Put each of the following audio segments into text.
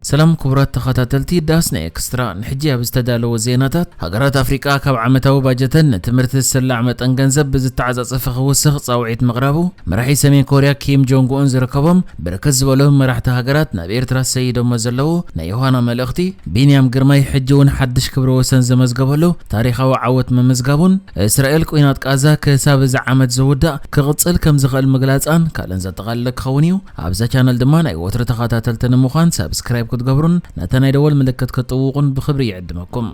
ሰላም ክቡራት ተኸታተልቲ ዳስና ኤክስትራ፣ ንሕጂ ኣብ ዝተዳለወ ዜናታት፣ ሃገራት ኣፍሪቃ ካብ ዓመታዊ ባጀተን ንትምህርቲ ዝስላዕ መጠን ገንዘብ ብዝተዓጻጸፈ ክውስኽ ጻውዒት ምቕራቡ፣ መራሒ ሰሜን ኮርያ ኪም ጆንግ ኡን ዝርከቦም ብርክት ዝበሉ መራሕቲ ሃገራት ናብ ኤርትራ ሰይዶሞ ዘለዉ ናይ ዮሃና መልእኽቲ፣ ቢንያም ግርማይ ሕጂ ውን ሓድሽ ክብረ ወሰን ዘመዝገበሉ ታሪኻዊ ዓወት ምምዝጋቡን እስራኤል ቊናት ቃዛ ክሳብ እዚ ዓመት ዝውዳእ ክቕጽል ከምዝኽእል ምግላጻን ካልእን ዘጠቓለለ ክኸውን እዩ። ኣብዛ ቻነል ድማ ናይ ወትሩ ተኻታተልቲ ንምዃን ሳብስክራይብ ክትገብሩን ነታ ናይ ደወል ምልክት ክትጥውቑን ብኽብሪ ይዕድመኩም።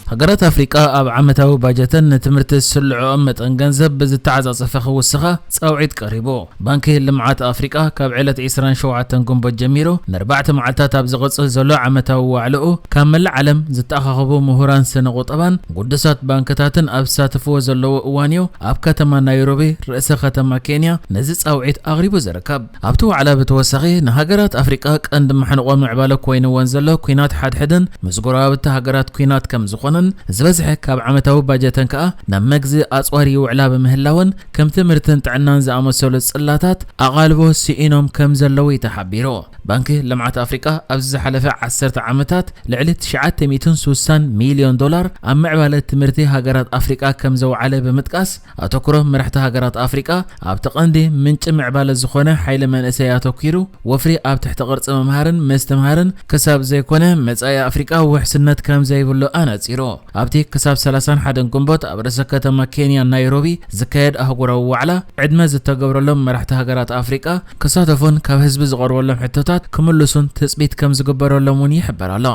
ሃገራት ኣፍሪቃ ኣብ ዓመታዊ ባጀተን ንትምህርቲ ዝስልዕኦም መጠን ገንዘብ ብዝተዓጻጸፈ ክውስኻ ጻውዒት ቀሪቡ። ባንኪ ልምዓት ኣፍሪቃ ካብ ዕለት ዕስራን ሸውዓተን ግንቦት ጀሚሩ ንኣርባዕተ መዓልታት ኣብ ዝቕጽል ዘሎ ዓመታዊ ዋዕላኡ ካብ መላእ ዓለም ዝተኣኻኸቡ ምሁራን ስነ-ቑጠባን ግዱሳት ባንክታትን ኣብ ዝሳተፍዎ ዘለዎ እዋንዮ ኣብ ከተማ ናይሮቢ ርእሰ ከተማ ኬንያ ነዚ ጻውዒት ኣቕሪቡ ዝርከብ። ኣብቲ ዋዕላ ብተወሳኺ ንሃገራት ኣፍሪቃ ቀንዲ መሕንቖ ምዕባለ ኮይንወን ዘሎ ኲናት ሓድሕድን ምስ ጎረባብቲ ሃገራት ኲናት ከምዝኾነን ዝበዝሐ ካብ ዓመታዊ ባጀተን ከኣ ናብ መግዚ ኣጽዋር ይውዕላ ብምህላወን ከም ትምህርትን ጥዕናን ዝኣመሰሉ ጽላታት ኣቓልቦ ስኢኖም ከምዘለዉዩ ተሓቢሩ። ባንኪ ልምዓት ኣፍሪቃ ኣብዚ ዝሓለፈ ዓሰርተ ዓመታት ልዕሊ ትሽዓተ ሚእትን ስሳን ሚልዮን ዶላር ኣብ ምዕባለ ትምህርቲ ሃገራት ኣፍሪቃ ከምዘውዓለ ብምጥቃስ፣ ኣተኩሮ መራሕቲ ሃገራት ኣፍሪቃ ኣብቲ ቀንዲ ምንጪ ምዕባለ ዝኾነ ሓይሊ መንእሰይ ኣተኲሩ ወፍሪ ኣብ ትሕቲ ቅርጺ ምምሃርን ምስትምሃርን ክሳብ ዘይኮነ መጻኢ ኣፍሪቃ ውሕስነት ከምዘይብሉ ኣነጺሩ። ኣብቲ ክሳብ ሰላሳን ሓደን ግንቦት ኣብ ርእሰ ከተማ ኬንያ ናይሮቢ ዝካየድ ኣህጉራዊ ዋዕላ ዕድመ ዝተገብረሎም መራሕቲ ሃገራት ኣፍሪቃ፣ ክሳተፉን ካብ ህዝቢ ዝቐርበሎም ሕቶታት ክምልሱን ትፅቢት ከም ዝግበረሎም እውን ይሕበር ኣሎ።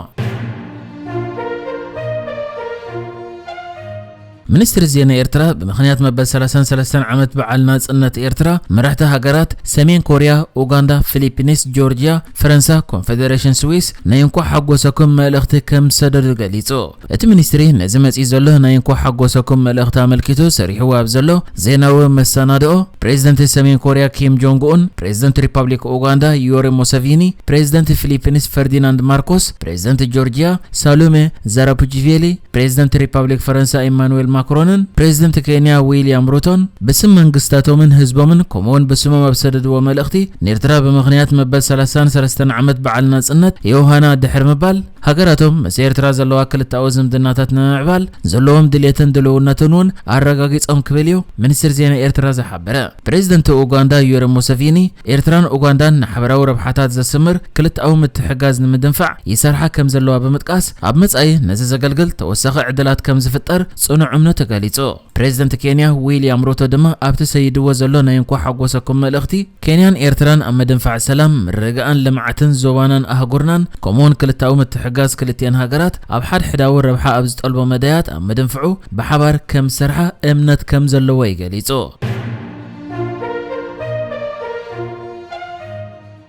ሚኒስትሪ ዜና ኤርትራ ብምኽንያት መበል 33 ዓመት በዓል ናጽነት ኤርትራ መራሕቲ ሃገራት ሰሜን ኮርያ፣ ኡጋንዳ፣ ፊሊፒንስ፣ ጆርጅያ፣ ፈረንሳ፣ ኮንፌዴሬሽን ስዊስ ናይ እንኳዕ ሓጎሰኩም መልእኽቲ ከም ዝሰደዱ ገሊጹ። እቲ ሚኒስትሪ ነዚ መፂኡ ዘሎ ናይ እንኳዕ ሓጎሰኩም መልእኽቲ ኣመልኪቱ ሰሪሕዎ ኣብ ዘሎ ዜናዊ መሰናድኦ፣ ፕሬዚደንት ሰሜን ኮርያ ኪም ጆንግ ኡን፣ ፕሬዚደንት ሪፓብሊክ ኡጋንዳ ዩወሪ ሙሰቪኒ፣ ፕሬዚደንት ፊሊፒንስ ፈርዲናንድ ማርኮስ፣ ፕሬዚደንት ጆርጂያ ሳሉሜ ዛራፑጂቬሊ፣ ፕሬዚደንት ሪፓብሊክ ፈረንሳ ኢማኑዌል ማክሮንን ፕሬዚደንት ኬንያ ዊሊያም ሩቶን ብስም መንግስታቶምን ህዝቦምን ከምኡ ውን ብስሞም ኣብ ዝሰደድዎ መልእኽቲ፣ ኔርትራ ብምኽንያት መበል ሰላሳን ሰለስተን ዓመት በዓል ናፅነት ዮውሃና ድሕሪ ምባል፣ ሃገራቶም ምስ ኤርትራ ዘለዋ ክልተኣዊ ዝምድናታት ንምምዕባል ዘለዎም ድሌትን ድልውነትን እውን ኣረጋጊጾም ክብል እዩ ሚኒስትሪ ዜና ኤርትራ ዝሓበረ። ፕረዚደንት ኡጋንዳ ዩወሪ ሙሰቪኒ፣ ኤርትራን ኡጋንዳን ንሓበራዊ ረብሓታት ዘስምር ክልተኣዊ ምትሕግጋዝ ንምድንፋዕ ይሰርሓ ከም ዘለዋ ብምጥቃስ፣ ኣብ መጻኢ ነዚ ዘገልግል ተወሳኺ ዕድላት ከም ዝፍጠር ጽኑዕ እምነቱ ገሊጹ። ፕሬዝደንት ኬንያ ዊልያም ሩቶ ድማ ኣብቲ ሰይድዎ ዘሎ ናይ እንኳዕ ሓጎሰኩም መልእኽቲ፣ ኬንያን ኤርትራን ኣብ ምድንፋዕ ሰላም፣ ምርግጋእን ልምዓትን ዞባናን ኣህጉርናን ከምኡ'ውን ክልተኣዊ ምትሕግጋዝ ክልቲኤን ሃገራት ኣብ ሓድሕዳዊ ረብሓ ኣብ ዝጠልቦ መዳያት ኣብ ምድንፍዑ ብሓባር ከምዝሰርሓ እምነት ከምዘለዎ እዩ ገሊጹ።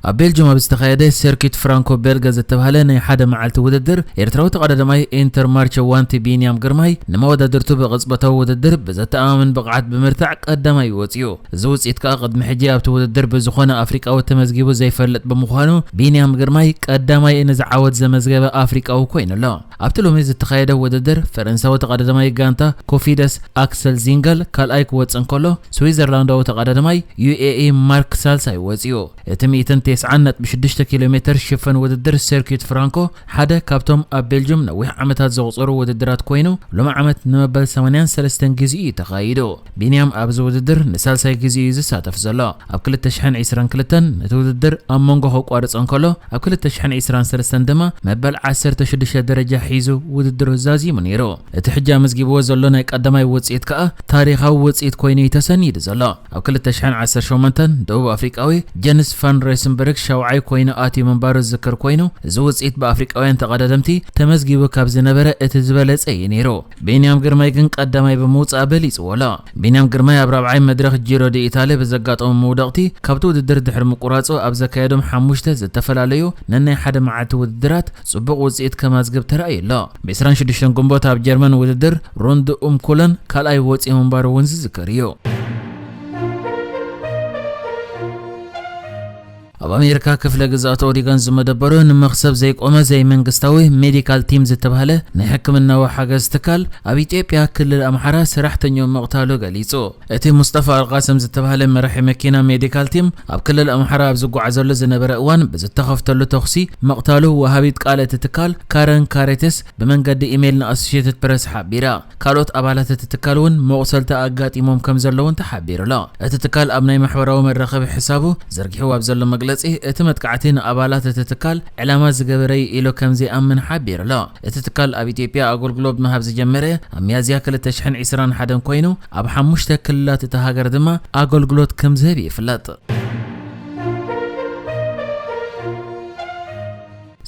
ኣብ ቤልጁም ኣብ ዝተኻየደ ሰርኪት ፍራንኮ ቤልገ ዝተብሃለ ናይ ሓደ መዓልቲ ውድድር፣ ኤርትራዊ ተቐዳዳማይ ኢንተርማርቸ ዋንቲ ቢንያም ግርማይ ንመወዳድርቱ ብቕጽበታዊ ውድድር ብዘተኣማምን ብቕዓት ብምርታዕ ቀዳማይ'ዩ ወጺኡ። እዚ ውጽኢት ከኣ ቅድሚ ሕጂ ኣብቲ ውድድር ብዝኾነ ኣፍሪቃዊ ተመዝጊቡ ዘይፈልጥ ብምዃኑ፣ ቢንያም ግርማይ ቀዳማይ ንዚ ዓወት ዘመዝገበ ኣፍሪቃዊ ኮይኑ ኣሎ። ኣብቲ ሎሚ ዝተኻየደ ውድድር፣ ፈረንሳዊ ተቐዳዳማይ ጋንታ ኮፊደስ ኣክሰል ዚንገል ካልኣይ ክወጽእ እንከሎ፣ ስዊዘርላንዳዊ ተቐዳዳማይ ዩኤኢ ማርክ ሳልሳይ ወጺኡ። እቲ ሚእትን ቴስዓን ነጥቢ ሽዱሽተ ኪሎሜተር ሽፈን ውድድር ሰርኪዩት ፍራንኮ ሓደ ካብቶም ኣብ ቤልጁም ነዊሕ ዓመታት ዘቑጸሩ ውድድራት ኮይኑ፣ ሎሚ ዓመት ንመበል ሰማንያን ሰለስተን ግዜኡ'ዩ ተኻይዱ። ቢንያም ኣብዚ ውድድር ንሳልሳይ ግዜኡ እዩ ዝሳተፍ ዘሎ። ኣብ ክልተ ሽሕን ዕስራን ክልተን ነቲ ውድድር ኣብ መንጎ ከቋርጾ እንከሎ፣ ኣብ ክልተ ሽሕን ዕስራን ሰለስተን ድማ መበል ዓሰርተ ሽዱሽተ ደረጃ ሒዙ ውድድሩ ዛዚሙ ነይሩ። እቲ ሕጂ ኣመዝጊብዎ ዘሎ ናይ ቀዳማይ ውጽኢት ከኣ ታሪኻዊ ውጽኢት ኮይኑ እዩ ተሰኒዱ ዘሎ። ኣብ ክልተ ሽሕን ዓሰርተ ሸሞንተን ደቡብ ኣፍሪቃዊ ጀንስ ቫን ሬስንበርግ ሻውዓይ ኮይኑ ኣትዩ ምንባሩ ዝዝከር ኮይኑ፣ እዚ ውጽኢት ብኣፍሪቃውያን ተቐዳደምቲ ተመዝጊቡ ካብ ዝነበረ እቲ ዝበለጸ እዩ ነይሩ። ቢንያም ግርማይ ግን ቀዳማይ ብምውጻእ በሊጽዎ ኣሎ። ቢንያም ግርማይ ኣብ ራብዓይ መድረኽ ጂሮ ዲኢታልያ ብዘጋጠሞ መውደቕቲ ካብቲ ውድድር ድሕሪ ምቁራጹ ኣብ ዘካየዶም ሓሙሽተ ዝተፈላለዩ ነናይ ሓደ መዓልቲ ውድድራት ጽቡቕ ውጽኢት ከማዝግብ ተራእዩ ኣሎ። ብ ዕስራን ሽዱሽተን ግንቦት ኣብ ጀርመን ውድድር ሩንድ ኡም ኩለን ካልኣይ ወጺኡ ምንባሩ እውን ዝዝከር እዩ። ኣብ ኣሜሪካ ክፍለ ግዝኣት ኦሪገን ዝመደበሩ ንመኽሰብ ዘይቆመ ዘይመንግስታዊ ሜዲካል ቲም ዝተብሃለ ናይ ሕክምናዊ ሓገዝ ትካል ኣብ ኢትዮጵያ ክልል ኣምሓራ ሰራሕተኝኡ ምቕታሉ ገሊፁ። እቲ ሙስጠፋ ኣልቓስም ዝተብሃለ መራሒ መኪና ሜዲካል ቲም ኣብ ክልል ኣምሓራ ኣብ ዝጓዓዘሉ ዝነበረ እዋን ብዝተኸፍተሉ ተኹሲ ምቕታሉ ወሃቢት ቃል እቲ ትካል ካረን ካሬትስ ብመንገዲ ኢሜይል ንኣሶሼትድ ፕረስ ሓቢራ። ካልኦት ኣባላት እቲ ትካል እውን መቑሰልቲ ኣጋጢሞም ከምዘለዉን ተሓቢሩ'ሎ። እቲ ትካል ኣብ ናይ ማሕበራዊ መራኸቢ ሕሳቡ ዘርጊሕዎ ኣብ ዘሎ መግለጺ፣ እቲ መጥቃዕቲ ንኣባላት እቲ ትካል ዕላማ ዝገበረ'ዩ ኢሉ ከምዘይኣምን ሓቢሩ'ሎ። እቲ ትካል ኣብ ኢትዮጵያ ኣጎልግሎብ ምሃብ ዝጀመረ ኣብ ሚያዝያ ክልተ ሽሕን ዒስራን ሓደን ኮይኑ፣ ኣብ ሓሙሽተ ክልላት እታ ሃገር ድማ ኣገልግሎት ከምዝህብ ይፍለጥ።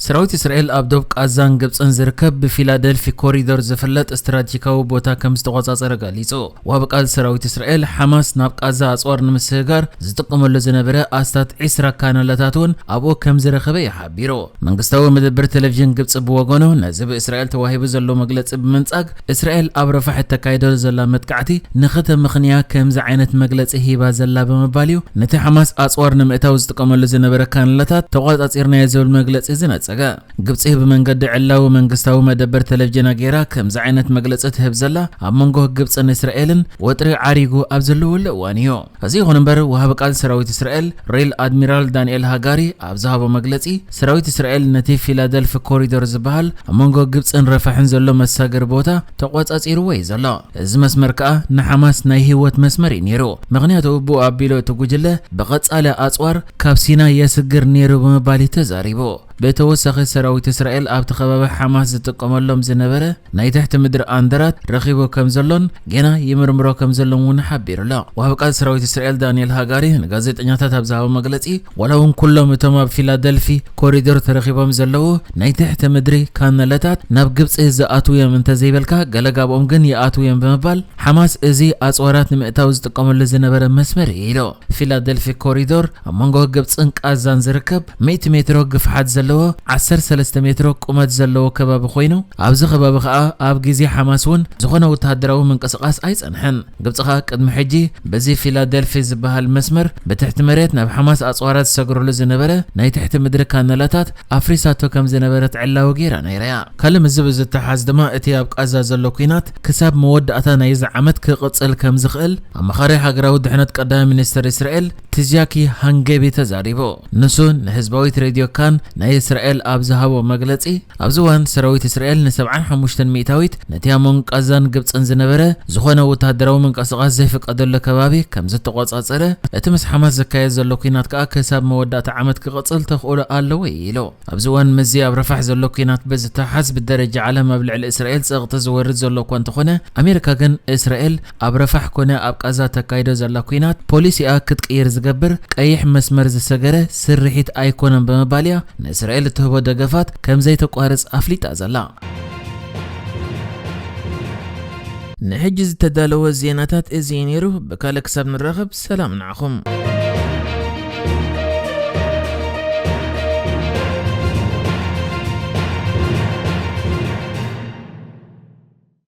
ሰራዊት እስራኤል ኣብ ዶብ ቓዛን ግብጽን ዝርከብ ብፊላደልፊ ኮሪዶር ዝፍለጥ ስትራቴጂካዊ ቦታ ከም ዝተቖጻጸረ ገሊጹ። ወሃቢ ቃል ሰራዊት እስራኤል፣ ሓማስ ናብ ቓዛ ኣጽዋር ንምስግጋር ዝጥቀመሉ ዝነበረ ኣስታት ዕስራ ካናላታት እውን ኣብኡ ከም ዝረኸበ እዩ ሓቢሩ። መንግስታዊ መደበር ተለቪዥን ግብጺ ብወገኑ፣ ነዚ ብእስራኤል ተዋሂቡ ዘሎ መግለጺ ብምንጻግ፣ እስራኤል ኣብ ረፋሕ እተካይዶ ዘላ መጥቃዕቲ ንኽተምኽንያ ከምዚ ዓይነት መግለጺ ሂባ ዘላ ብምባል እዩ ነቲ ሓማስ ኣጽዋር ንምእታው ዝጥቀመሉ ዝነበረ ካንላታት ተቖጻጺርናዮ ዝብል መግለጺ ዝነጸገ። ግብጺ ብመንገዲ ዕላዊ መንግስታዊ መደበር ተለቪዥና ገይራ ከምዚ ዓይነት መግለጺ ትህብ ዘላ ኣብ መንጎ ግብጽን እስራኤልን ወጥሪ ዓሪጉ ኣብ ዘለወሉ እዋን እዩ። እዚ ይኹን እምበር ወሃቢ ቃል ሰራዊት እስራኤል ሬል ኣድሚራል ዳንኤል ሃጋሪ ኣብ ዝሃቦ መግለጺ ሰራዊት እስራኤል ነቲ ፊላደልፊ ኮሪዶር ዝበሃል ኣብ መንጎ ግብጽን ረፋሕን ዘሎ መሳገሪ ቦታ ተቖጻጺርዎ እዩ ዘሎ። እዚ መስመር ከኣ ንሓማስ ናይ ህይወት መስመር እዩ ነይሩ፣ ምኽንያቱ ብኡ ኣቢሉ እቲ ጉጅለ ብቐጻሊ ኣጽዋር ካብ ሲናይ የስግር ነይሩ ብምባል እዩ ተዛሪቡ። ብተወሳኺ ሰራዊት እስራኤል ኣብቲ ከባቢ ሓማስ ዝጥቀመሎም ዝነበረ ናይ ትሕቲ ምድሪ ኣንደራት ረኺቡ ከምዘሎን ጌና ይምርምሮ ከምዘሎን እውን ሓቢሩ'ሎ። ወሃቢ ቃል ሰራዊት እስራኤል ዳንኤል ሃጋሪ ንጋዜጠኛታት ኣብ ዝሃቦ መግለጺ ዋላ እውን ኩሎም እቶም ኣብ ፊላደልፊ ኮሪዶር ተረኺቦም ዘለዉ ናይ ትሕቲ ምድሪ ካነለታት ናብ ግብጺ ዝኣትዉ እዮም እንተዘይበልካ ገለ ጋብኦም ግን ይኣትዉ እዮም ብምባል ሓማስ እዚ ኣጽዋራት ንምእታው ዝጥቀመሉ ዝነበረ መስመር እዩ ኢሉ። ፊላደልፊ ኮሪዶር ኣብ መንጎ ግብጽን ቃዛን ዝርከብ ሚእቲ ሜትሮ ግፍሓት ዘለዎ ዓሰርተ ሰለስተ ሜትሮ ቁመት ዘለዎ ከባቢ ኮይኑ ኣብዚ ከባቢ ከኣ ኣብ ግዜ ሓማስ እውን ዝኾነ ወተሃደራዊ ምንቅስቓስ ኣይጸንሐን። ግብጺ ከኣ ቅድሚ ሕጂ በዚ ፊላደልፊ ዝበሃል መስመር ብትሕቲ መሬት ናብ ሓማስ ኣጽዋራ ዝሰግረሉ ዝነበረ ናይ ትሕቲ ምድሪ ካነላታት ኣፍሪሳቶ ከም ዝነበረት ዕላዊ ገይራ ነይራ'ያ። ካልእ ምስዚ ብዝተሓሓዝ ድማ እቲ ኣብ ቓዛ ዘሎ ኲናት ክሳብ መወዳእታ ናይዚ ዓመት ክቕጽል ከም ዝኽእል ኣማኻሪ ሃገራዊ ድሕነት ቀዳማይ ሚኒስተር እስራኤል ትዝያኪ ሃንገቢ ተዛሪቡ። ንሱ ንህዝባዊት ሬድዮ ካን ናይ እስራኤል ኣብ ዝሃቦ መግለጺ ኣብዚ እዋን ሰራዊት እስራኤል ንሰብዓን ሓሙሽተን ሚእታዊት ነቲ ኣብ መንጎ ቓዛን ግብጽን ዝነበረ ዝዀነ ወተሃደራዊ ምንቅስቓስ ዘይፍቀደሉ ከባቢ ከም ዝተቖጻጸረ፣ እቲ ምስ ሓማስ ዝካየድ ዘሎ ኲናት ከኣ ክሳብ መወዳእታ ዓመት ክቕጽል ተኽእሎ ኣለዎ ኢሉ። ኣብዚ እዋን ምስዚ ኣብ ራፋሕ ዘሎ ኲናት ብዝተሓሓዝ ብደረጃ ዓለም ኣብ ልዕሊ እስራኤል ጸቕጢ ዝወርድ ዘሎ እኳ እንተዀነ፣ ኣሜሪካ ግን እስራኤል ኣብ ራፋሕ ኰነ ኣብ ቓዛ ተካይዶ ዘላ ኲናት ፖሊሲኣ ክትቅይር ዝገብር ቀይሕ መስመር ዝሰገረ ስርሒት ኣይኰነን ብምባል'ያ ንእስራኤል እትህቦ ደገፋት ከም ዘይተቋርጽ ኣፍሊጣ ዘላ። ንሕጂ ዝተዳለወ ዜናታት እዚ እዩ ነይሩ። ብካልእ ክሳብ ንራኸብ ሰላም ንዓኹም።